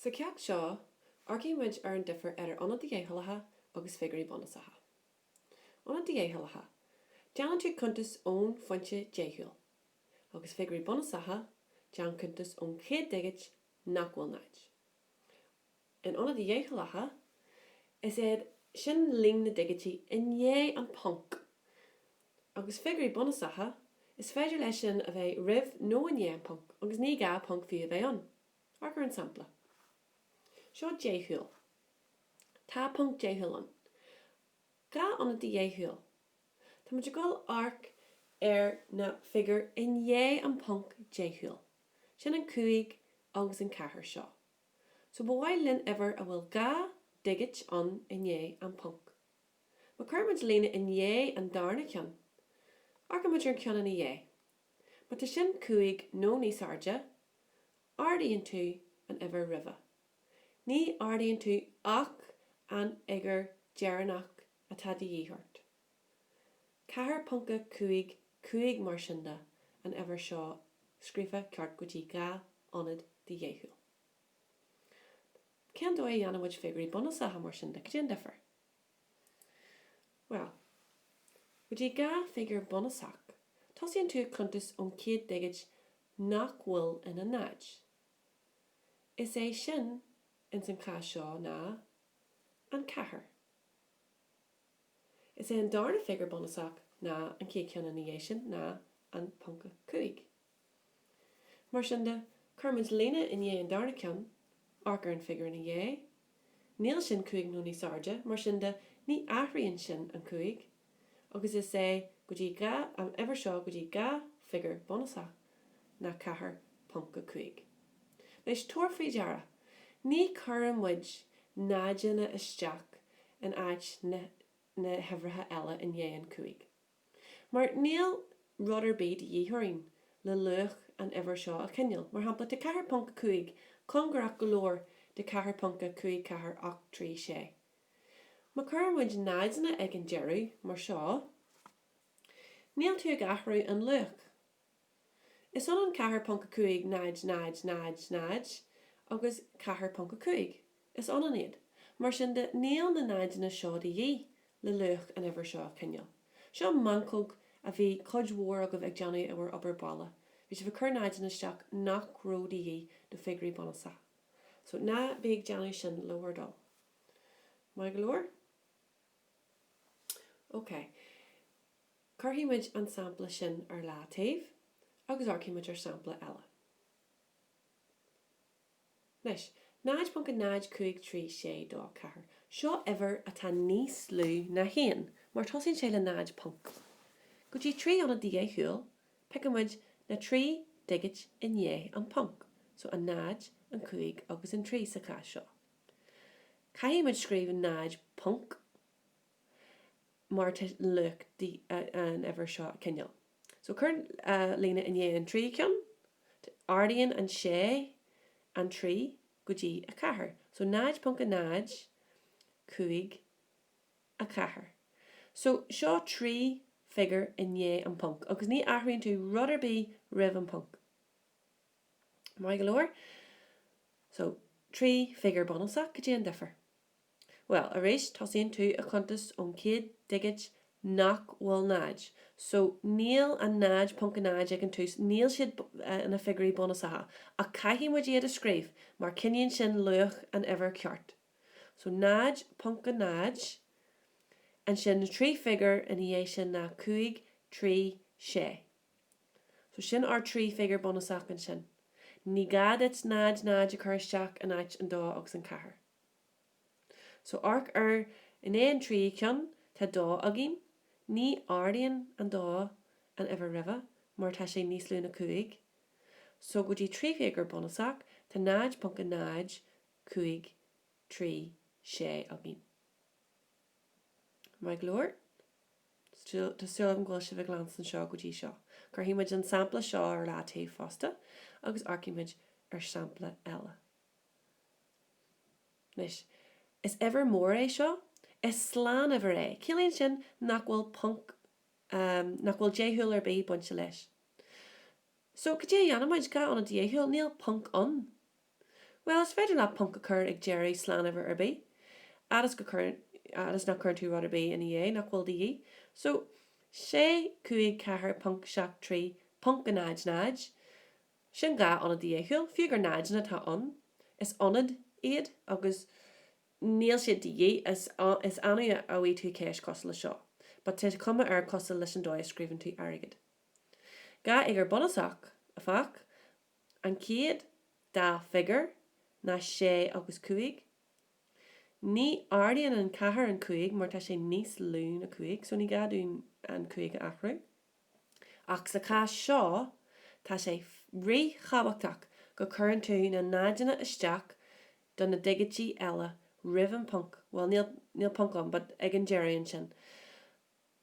Sa cheacht seo, amharcann muid ar an difear idir ionaid dheachúlacha agus figiúirí bunúsacha. Ionaid dheachúlacha, déanann tú cuntas ón phointe deachúil. Agus figiúirí bunúsacha, déan cuntas ón chéad digit nach bhfuil ina náid. In ionaid dheachúlacha, is é sin líon na ndigití i ndiaidh an ponc. agus figiúirí bunúsacha, is féidir leis sin a bheith roimh nó i ndiaidh an ponc, agus ní gá ponc fiú a bheith ann. Amharc ar an sampla seo, deachúil. Tá ponc deachúil ann. Dhá ionad de dheachúil. Tá muid ag gabháil amharc ar na figiúir i ndiaidh an ponc deachúil. Sin an 5 agus an 4 seo. So ba mhaith linn uimhir a bhfuil dhá dhigit ann i ndiaidh an ponc. Má chuireann muid líne i ndiaidh an darna ceann, amharcann muid ar an ceann ina dhiaidh. Má tá sin cúig nó níos airde, ardaíonn tú an uimhir roimhe. Ní ardaíonn tú ach an fhigiúr deireanach atá de dhíth ort. 4.55 Mar sin de, an uimhir seo scríofa ceart go dtí dhá ionad de dheachúil. Cén dóigh a dhéanann muid figiúirí bunúsacha mar sin de? Caidé an difear? Bhuel, go dtí dhá figiúr bunúsach. Tosaíonn tú a cuntas ón chéad digit nach bhfuil ina náid. Is é sin, ins an chás seo, ná an ceathair. Is é an darna figiúr bunúsach ná an chéad cheann ina dhiaidh sin, ná an ponc a cúig. Mar sin de, cuirimid líne i ndiaidh an darna ceann, amharc ar an figiúr ina dhiaidh. Níl sin cúig nó níos airde, mar sin de, ní athraíonn sin an cúig. Agus is é go dtí dhá an uimhir seo go dtí dhá figiúr bunúsach ná 4.5. Anois, tabhair faoi deara, ní chuireann muid náideanna isteach in áit na huimhreacha eile i ndiaidh an cúig. Mar níl rud ar bith de dhíth orainn le luach an uimhir seo a choinneáil, mar shampla, tá 4.5 cóngarach go leor do 4.54 ocht trí sé. Má chuireann muid náideanna ag an deireadh, mar seo, níl tú ag athrú an luach. Is ionann 4.5 0 0 0 0 agus 4.5. Is ionann iad. Mar sin de, níl na náideanna seo de dhíth le luach an uimhir seo a choinneáil. Seo meancóg a bhí cuid mhór agaibh ag déanamh i bhur obair bhaile. Bhí sibh ag cur náideanna isteach nach raibh de dhíth do figiúirí bunúsacha. So, ná bí ag déanamh sin le bhur dtoil. Maith go leor? OK. Cuirfidh muid an sampla sin ar leataobh agus amharcfaidh muid ar shampla eile. Anois, 0.053624, seo uimhir atá níos lú ná 1, mar tosaíonn sé le 0 ponc. Go dtí 3 ionad dheachúil, piocfaidh muid na trí dhigit i ndiaidh an ponc, so an 0, an 5 agus an 3 sa chás seo. Caithfidh muid scríobh 0 ponc mar tá luach an uimhir seo a coinneáil so cuir an líne i ndiaidh an tríú ceann ardaíonn an sé an trí go dtí a ceathair so 0.054 so seo trí figiúr i ndiaidh an ponc agus ní athraíonn tú rud ar bith roimh an ponc maith go leor so trí figiúr bunúsach cad é an difear. Bhuel, arís tosaíonn tú ag cuntas ón chéad digit nach bhfuil 0. So, níl an 0.0 ag an tús, níl siad ina figiúirí bunúsacha, ach caithfidh muid iad a scríobh mar coinníonn sin luach an uimhir ceart. So 0.0, ansin na trí figiúr ina dhiaidh sin ná 5, 3, 6. So sin ár dtrí figiúr bunúsach ansin. Ní gá duit 0, 0 a chur isteach in áit an dó agus an ceathair. So amharc air i ndiaidh an tríú ceann tá dó againn, ní ardaíonn an dó an uimhir roimhe mar tá sé níos lú ná cúig. So go dtí trí figiúr bunúsach tá 0.0536 againn. Maith go leor? Tá súil agam go bhfuil sibh ag leanstan seo go dtí seo. Cuirfidh muid an sampla seo ar leataobh fosta agus amharcfaidh muid ar sampla eile. Anois, is uimhir mór é seo, is slánuimhir é, ciallaíonn sin nach bhfuil ponc, nach bhfuil deachúil ar bith bainte leis. So, cad é a dhéanfaimid? Dhá ionad dheachúil? Níl ponc ann. Bhuel, is féidir leat ponc a chur ag deireadh slánuimhir ar bith, fhad is go, fhad is nach cuireann tú rud ar bith ina dhiaidh nach bhfuil de dhíth. So, sé, cúig, ceathair, ponc, seacht, trí, ponc, a náid, náid. Sin dhá ionad dheachúil, fiú gur náideanna atá ann, is ionaid iad agus níl siad de dhíth, is annamh a bhfaighidh tú ceist cosúil le seo, but tá cuma air cosúil leis an dóigh a scríobhann tú airgead. Dhá fhigiúr bunúsach, afách, an chéad dá figiúr ná sé agus cúig. Ní ardaíonn an ceathair an cúig mar tá sé níos lú ná cúig, so ní gá dúinn an cúig a athrú. Ach sa chás seo, tá sé rí-thabhachtach go gcuireann tú na náideanna isteach do na digití eile roimh an ponc, bhuel, níl, níl ponc ann, but ag an deireadh ansin.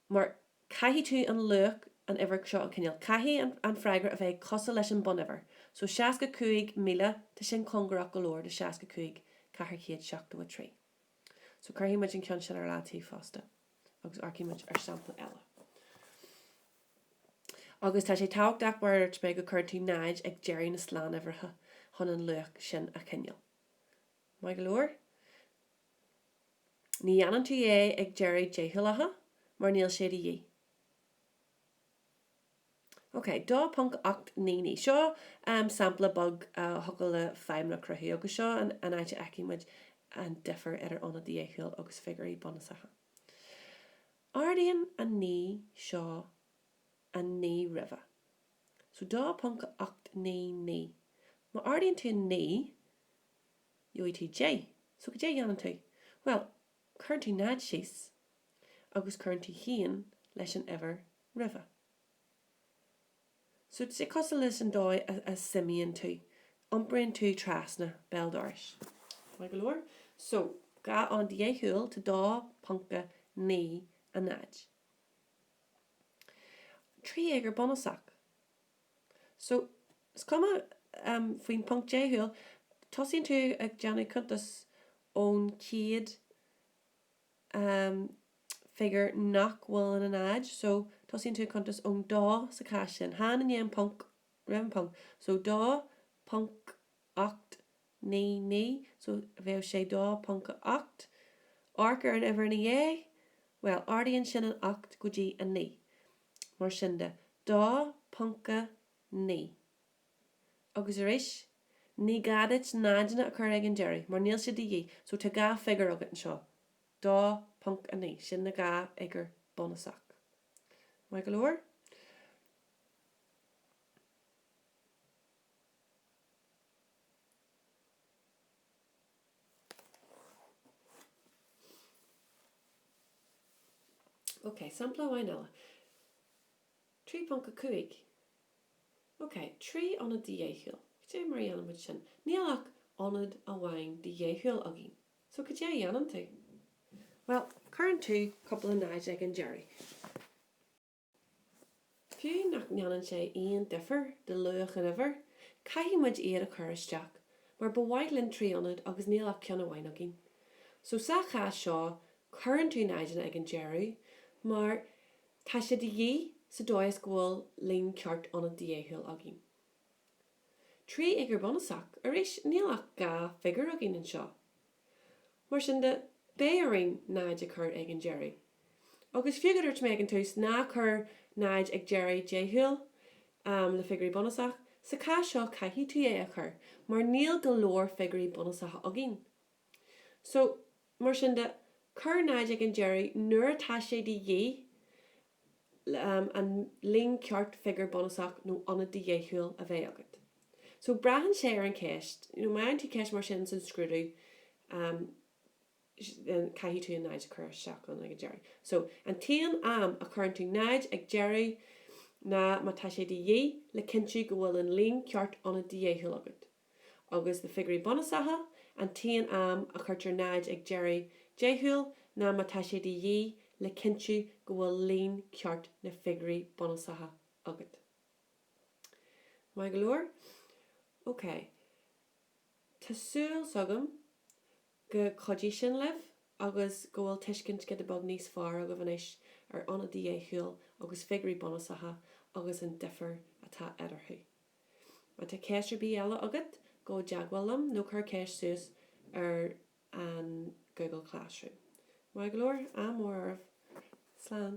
Mar caithfidh tú an luach, an uimhir seo, an cineál, caithfidh an, an freagra a bheith cosúil leis an bonnuimhir. So, 65,000, tá sin cóngarach go leor do 65,473. So, cuirfidh muid an ceann sin ar leataobh fosta. agus amharcaímid ar sampla eile. Agus tá sé tábhachtach mar a dúirt mé go gcuireann tú 0 ag deireadh na slánuimhreacha chun an luach sin a choinneáil. Maith go leor? Ní dhéanann tú é ag deireadh deachúlacha mar níl sé de dhíth. OK. 2.899 seo sampla beag fuacail le feidhm a chruthú, agus seo an áit a fheicfidh muid an difear idir ionad dheachúil agus figiúirí bunúsacha. Ardaíonn an 9 seo an 9 roimhe. So 2.899. Má ardaíonn tú an 9, gheobhaidh tú 10. So cad é a dhéanann tú? Bhuel, Cuireann tú 0 síos agus cuireann tú 1 leis an uimhir roimhe. So is é cosúil leis an dóigh a suimíonn tú, iompraíonn tú trasna béal dorais. Maith go leor. So, dhá ionad dheachúil, tá 2.90. Trí fhigiúr bunúsach. So, is cuma faoin ponc deachúil, tosaíonn tú ag déanamh cuntas ón chéad figiúr nach bhfuil ina náid, so tosaíonn tú ag cuntas ón dó sa chás sin, chan i ndiaidh an ponc, roimh an ponc, so dó ponc ocht 9 9, so bheadh sé 2.8. Amharc ar an uimhir ina dhiaidh, bhuel, ardaíonn sin an 8 go dtí 9. Mar sin de, 2.9. Agus arís, ní gá duit náideanna a chur ag an deireadh, mar níl sé de dhíth, so tá dhá figiúr agat anseo, 2.9, sin na dhá fhigiúr bunúsach. Maith go leor? Ok, sampla amháin eile. 3.5 Ok, trí ionad de dheachúil. Cad é mar a dhéanann muid sin? Níl ach ionad amháin de dheachúil againn. So cad é a dhéanann tú? Bhuel, cuireann tú cúpla 0 ag an deireadh. Fiú nach ndéanann sé aon difear do luach na huimhreach, caithfidh muid iad a chur isteach, mar ba mhaith linn trí ionad agus níl ach ceann amháin againn. So sa chás seo cuireann tú náideanna ag an deireadh, mar tá sé de dhíth sa dóigh is go bhfuil líon ceart ionad de dheachúil againn. Trí fhigiúr bhunúsacha, arís níl ach dhá figiúr againn anseo. Mar sin de, beidh orainn 0 a chur ag an deireadh. Agus fiú go dúirt mé ag an tús ná cuir 0 ag deireadh deachúil le figiúirí bunúsach, sa chás seo caithfidh tú é a chur mar níl go leor figiúirí bunúsacha againn. So, mar sin de, cuir 0 ag an deireadh nuair atá sé de dhíth an líon ceart figiúr bunúsach nó ionad de dheachúil a bheith agat. So, braitheann sé ar an cheist, má fhaigheann tú ceist mar sin san scrúdú, caithfidh tú an 0 a chur isteach ann ag an deireadh. So, an t-aon am a chuireann tú 0 ag deireadh ná má tá sé de dhíth le cinntiú go bhfuil an líon ceart ionad de dheachúil agat. agus na figiúirí bunúsacha, an t-aon am a chuirtear 0 ag deireadh deachúil ná má tá sé de dhíth le cinntiú go bhfuil líon ceart na figiúirí bunúsacha agat. Maith go leor? Ok. Tá súil agam gur chuidigh sin libh agus go bhfuil tuiscint giota beag níos fearr agaibh anois ar ionaid dheachúil agus figiúirí bunúsacha agus an difear atá eatarthu. Má tá ceist ar bith eile agat, gabh i dteagmháil liom nó cuir ceist suas ar an Google Classroom. Maith go leor, ádh mór oraibh. Slán.